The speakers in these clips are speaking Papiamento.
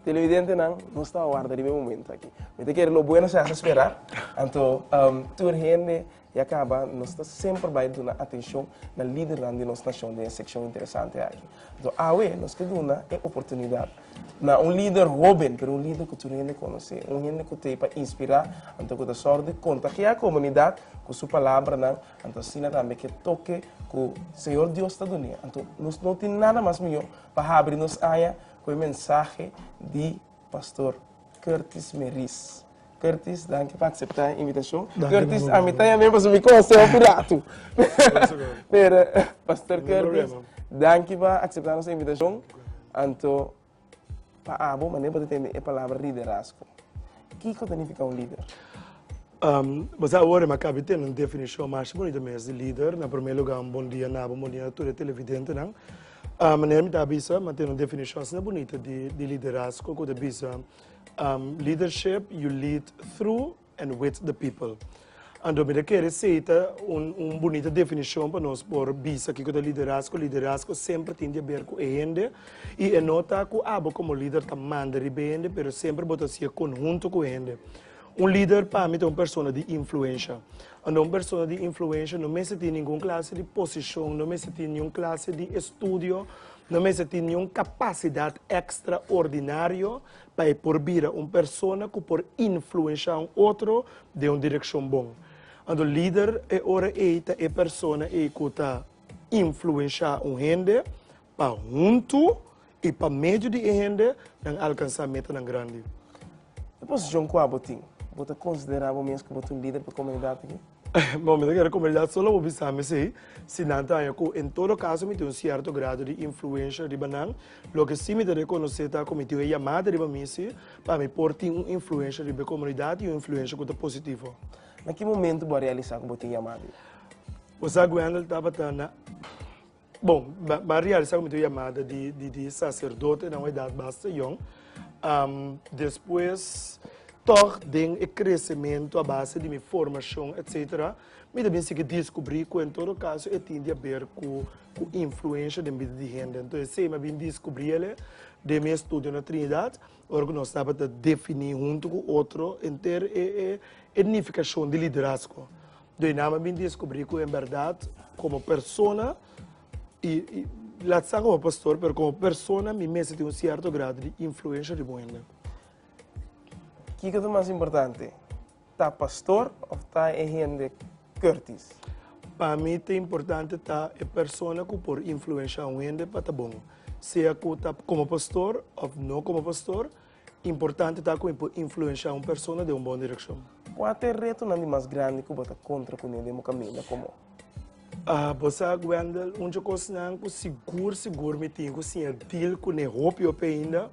Televidentenan, nos ta warda riba e momento aki. Mi ta kere lo bueno se hace esperar. Anto tur hende E a kaba, nos ta semper bai duna atenshon na lidernan di nos nashon den e sekshon interesante aki. Anto awe nos ke duna e oportunidat na un lider hoben, pero un lider ku tur hende konosé, un hende ku ta e pa inspirá, anto ku ta sòru di kontagiá e komunidat ku su palabranan, anto asina tambe ku e toke ku Señor Dios ta dun'é. Anto nos no tin nada mas mihó pa habri nos aña ku e mensahe di. Pastor Curtis Meriz. Curtis, danki pa acepta e invitacion. Curtis, a mi ta yama e pasobra mi conoceba cu rato. Pero, Pastor Curtis, danki pa acepta nos invitacion. Anto, pa abo, mane bo ta tende e palabra liderazgo? Kico ta nifica un lider? Um, bo sa awor, hermano Cabi tene un definicion masha bunito mes di lider. Na primer lugar, un bon dia na bo, un bon dia na tur e televidentenan. A manera mi ta bisa, mi tin un definición asina bunita di liderazgo cu ta bisa, Leadership you lead through and with the people. Anto mi ta kere seta un bunita definición pa nos por bisa kico ta liderazgo. Liderazgo semper tin di haber cu e hende y e no ta cu abo como lider ta manda riba e hende pero semper bo ta haci e conhunto cu e hende. Un lider pa mi ta un persona di influensha. Unda un persona di influensha no mester tin ningun klase di posishon, no mester tin niun klase di estudio, no mester tin niun kapasidat ekstraordinario pa e por bira un persona ku por influensha un otro den un direkshon bon. Anto lider e ora ei ta e persona ei ku ta influensha un hende Pa huntu i pa medio di e hende nan alkansá metanan grandi. E posishon kua bo tin, bo ta konsiderá bo mes ku bo ta un lider pa komunidat aki? Bo, mi ta kere komunidat so lo bo bisa mi esei, si nan ta haña ku en todo kaso mi tin un sierto grado di influensha riba nan. Loke si mi ta rekonosé ta ku mi tin un yamada riba mi si pa mi por tin un influensha riba e komunidat i un influensha ku ta positivo. Na ki momentu bo a realisá ku bo tin yamada ei? Bo sa ku Wendell tabata na. Bon, m'a realisá ku mi ta oí yamada di saserdotenan un edat basta yòn. Despues, tòg den e kresementu a base di mi formashon etsetera, mi ta bin sigui diskubrí ku en todo kaso e tin di aber ku influensha den bida di hende. Anto esei mi a bin diskubrí ele den mi estudio na Trinidat, ora ku nos tabata definí huntu ku otro henter e nifikashon di liderazgo. Dor nan a bin descubri cu en berdad como persona, y laat sta como pastor, pero como persona mi mester tin un cierto grado di influencia riba un hende. Kico ta mas importante, ta pastor of ta e hende curtis? Pa mi ta importante ta e persona cu por influencia un hende pa ta bon, sea cu ta como pastor of no como pastor, Importante ta ku e por influenshá un persona den un bon direkshon. Kua ta e retonan di mas grandi ku bo ta kontra kuné den bo kaminda? Komo? Bo sa, Wendell, un dje kosnan ku sigur sigur mi tin ku si a dil kuné hopi hopi ainda,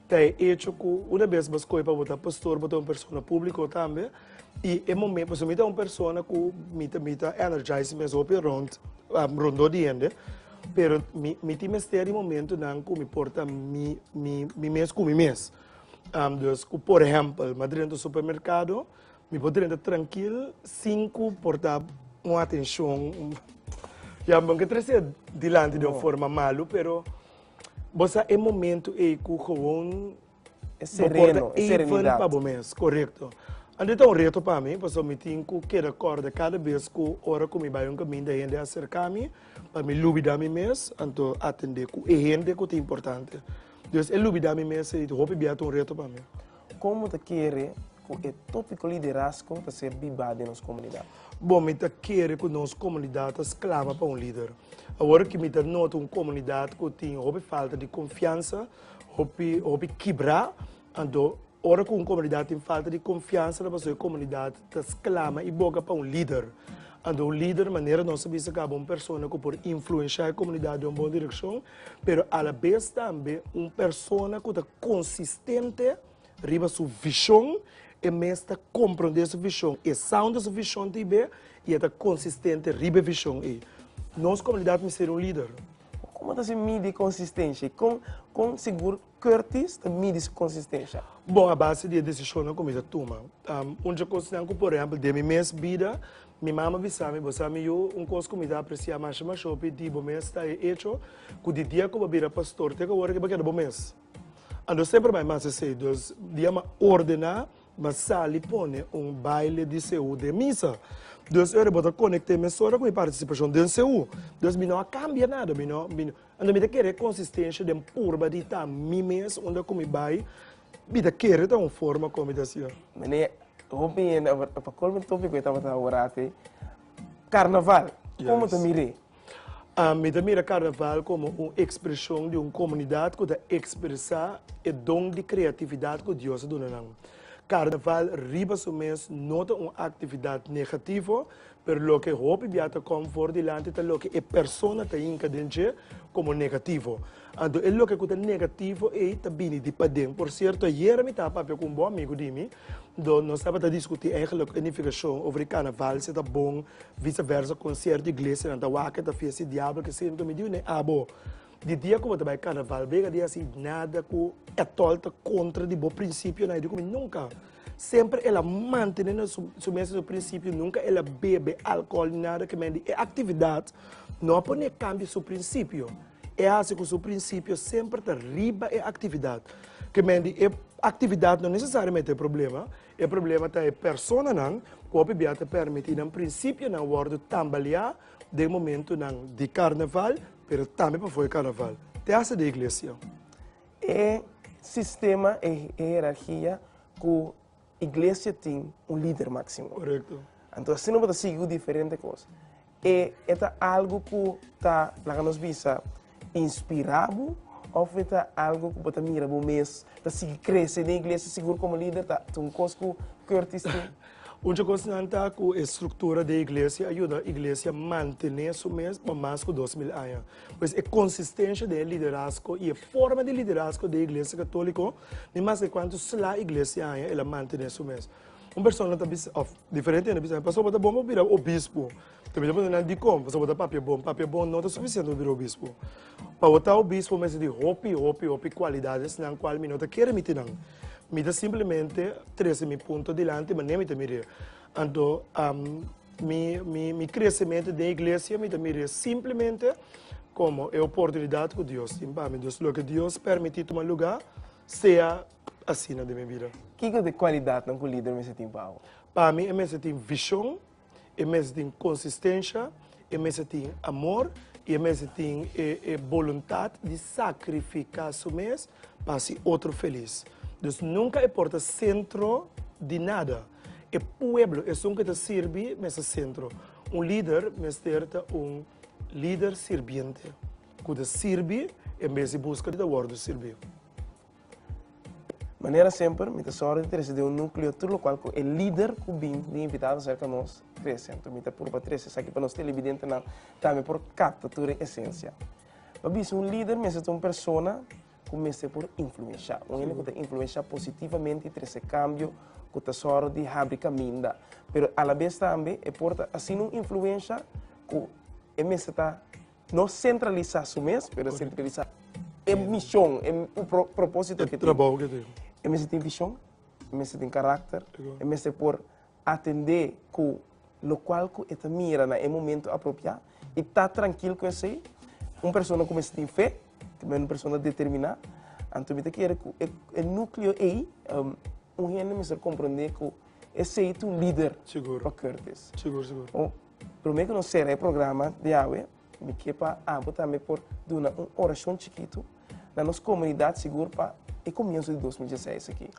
ta e echo ku una bes bo skohe pa bo ta pastor bo ta un persona públiko tambe. I e momen, pasobra mi ta un persona ku mi ta energize mes hopi rond, rondó di hende. Pero mi, mi tin mester di momentunan ku mi por ta mi, mi, mi mes ku mi mes. Um, dus ku por ehempel, mi a drenta supermerkado, mi por drenta trankil sin ku por ta un atenshon. Ya, mi ke trese dilanti di un forma malu, pero bo sa e momentu ei ku gewoon Bo por ta eiffel pa bo mes, korekto. Anto ta un reto pa mi, pasobra mi tin ku keda kòrda kada bes ku ora ku mi bai un kaminda hende a serká mi, pa mi lubidá mi mes, anto atendé ku e hende ku ta importante. Entonces e lubidá mi mes ei hopi bia ta un reto pa mi. Kon bo ta kere ku e tópiko liderazgo ta ser bibá den nos komunidat? Bo, mi ta kere ku nos komunidat ta sklama pa un lider. Awor ki mi ta nota un komunidat ku tin hopi falta di konfiansa, Hopi hopi kibra anto ora cu un comunidad tin falta di confiansa na pasobra e comunidad ta clama e boca pa un lider anto un lider manera nos a bisa caba un persona cu por influencia e comunidad den un bon direccion pero a la bes tambe un persona cu ta consistente riba su vision e mes ta comprende su vision e sound su vision ta y be y e ta consistente riba e vision ey nos comunidad mester un lider. Como ta si midi consistencia y con con sigur Curtis ta midi su consistencia? Bo a base di e decisionnan cu mi ta tuma. Un dje cosnan cu por ehempel den mi mes bida mi mama bisa mi, bo sa mi yu, un cos cu mi ta aprecia masha masha hopi di bo mes ta e hecho cu di dia cu bo a bira pastor te cu awor bo a keda bo mes. Anto semper bay mas esey. Dus dia mi a ordena. M'a sali pone un baile di seú den misa. Dus ora bo ta konekté mesora ku mi partisipashon den seú. Dus mi no a kambia nada, mi no, mi no. Anto mi ta kere konsistensia den purba di ta mi mes unda ku mi bai, mi ta kere ta un forma kon mi ta hasié. Mené, hopi hende, pa kolmo di tur hopi ku e tabata wòrdu así, Karnaval, komo ta mir'é? Mi ta mira karnaval komo un ekspreshon di un komunidat ku ta ekspresá e don di kreatividat ku Dios a duna nan. Karnaval riba su mes no ta un aktividat negativo, pero loke hopi bia ta kom for dilanti ta loke e persona ta hinka den dje komo negativo. Anto e loke ku ta negativo ei ta bini di paden. Por sierto, ayera mi tabatin papia ku un bon amigu di mi. Dor nos tabata diskutí eigenlijk planifikashon over e karnaval, si e ta bon, visaversa, kon sierto iglesianan ta wak e ta fies di diablo, keseyndo. Mi di un'e abo, di dia ku bo ta bai karnaval brega di hasi nada ku etol ta kontra di bo prinsipionan. Yo diku, mi nunka. Semper el a mantené nan su mes e su prinsipio, nunka el a bebe alkohol ni nada. Ke men di e aktividat no a pon'é kambia su prinsipio. E hasi ku su prinsipio semper ta riba e aktividat. Ke men di e aktividat no nesesariamente e problema, e problema ta e personanan ku hopi bia ta permití nan prinsipionan wòrdu tambaleá den momentunan di karnaval, pero tambe pafó e karnaval. Te hasi di iglesia. E sistema, e hierarkia ku iglesia tin un lider máximo. Correcto. Anto asina bo ta sigui ku diferente kos. E, e ta algo ku ta, laga nos bisa, inspirá bo òf e ta algo ku bo ta mira bo mes ta sigui krese den iglesia sigur komo lider? Ta ta un kos ku Curtis tin? Un di kosnan ta ku e struktura den e iglesia a yuda iglesia mantené su mes pa mas ku dos mil aña. Pues e konsistensha den e liderazgo i e forma di liderazgo den e Iglesia Katoliko Ni maske kuantu sla iglesia aña el a mantené su mes. Un persona ta bisa, òf diferente hende ta bisa, Pastor, bo ta bon pa bira obispo? Te mester puntra nan dikon, pasobra bo ta papia bon. Papia bon no ta sufisiente pa bira obispo. Pa bo ta obispo mester tin hopi, hopi, hopi kualidadesnan kual mi no ta kere miti nan. Mi ta simplemente trese mi punto dilanti, mane'e mi ta mir'é. Anto, am. Mi, mi, mi crecemento den iglesia mi ta mira simplemente como e oportunidad cu Dios tin pa mi. Dus loke Dios permiti tuma lugar, sea asina den mi bida. Kiko ta e cualidadnan cu lider mester tin pa awo? Pa mi e mester tin vision, e mester tin consistencia, e mester tin amor y e mester tin e, e boluntad di sacrifica su mes pa haci otro feliz. Dus nunca e por ta centro di nada. E pueblo esun ke ta sirbi mester sentro. Un lider mester ta un lider sirbiente, ku ta sirbi en bes di buska di ta wòrdu sirbi. Manera semper, mi ta sòru di trese den un núkleo tur lokual ku e lider ku bin bin invitado serka nos trese. Anto mi ta purba trese esaki pa nos telebidentenan tambe por kapta tur e esensia. Pabia si un lider mester ta un persona ku mester por influenshá. Un hende ku ta influenshá positivamente i trese kambio ku ta sòru di habri kaminda. Pero alabes tambe e por ta asina un influensha ku e mester ta no sentralisá su mes, pero sentralisá e mishon, e propósito ku e tin. E mester tin vishon, e mester tin karakter, e mester por. atendé ku lokual ku e ta mira na e momentu apropiá i ta trankil ku esei. Un persona ku mester tin fe, tambe un persona determiná. Anto mi ta kere ku e núkleo ei, un hende mester komprondé ku esei ta un lider pa Curtis. Promé ku nos sera e programa di awe, Mi ke pa abo tambe por duna un orashon chikitu na nos komunidat sigur pa e komienso di dos mil dieseis aki.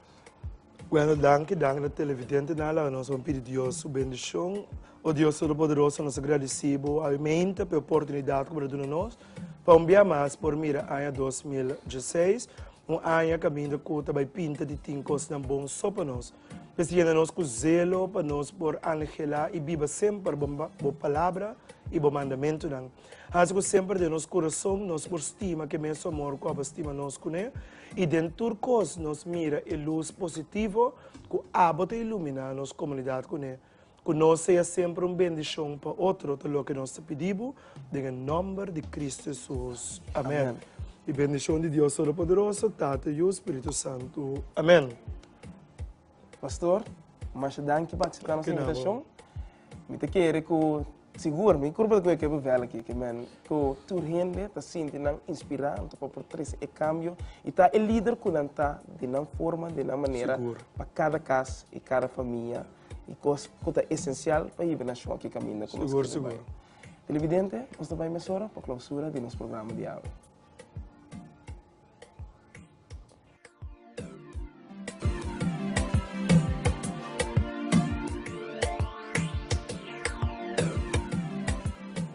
Bueno, danki, danki na televidentenan. Laga nos bon pidi Dios su bendishon. O Dios Todopoderoso, nos ta gradisí Bo almente pa e oportunidat ku Bo ta duna nos pa un bia mas por mira aña dos mil dieseis, un aña kaminda ku ta bai pinta di tin kosnan bon so pa nos. Mester yena nos ku zelo pa nos por anhelá i biba semper bo palabra i bo mandamentunan. Hasi ku semper den nos kurason nos por stima ke mes Amor ku a por stima nos kuné, i den tur kos nos mira e lus positivo ku abo ta iluminá nos komunidat kuné. Ku nos sea semper un bendishon pa otro, ta loke nos ta pidi bo, den e nòmber di Kristu Hesus. Amèn. Di bendishon di Dios Todopoderoso, Tata, Yu, Spiritu Santu. Amèn. Pastor, masha danki pa akseptá nos invitashon. Mi ta kere ku sigur, mi kurpa ta kuye ke bevel aki, ke men ku tur hende ta sinti nan inspirá, anto pa por trese e kambio i ta e lider ku nan ta den nan forma, den nan manera pa kada kas i kada famia. e kos ku ta esensial pa hiba nashon aki kaminda ku nos kere bai. Televidente, nos ta bai mesora pa klousura di nos programa di awe.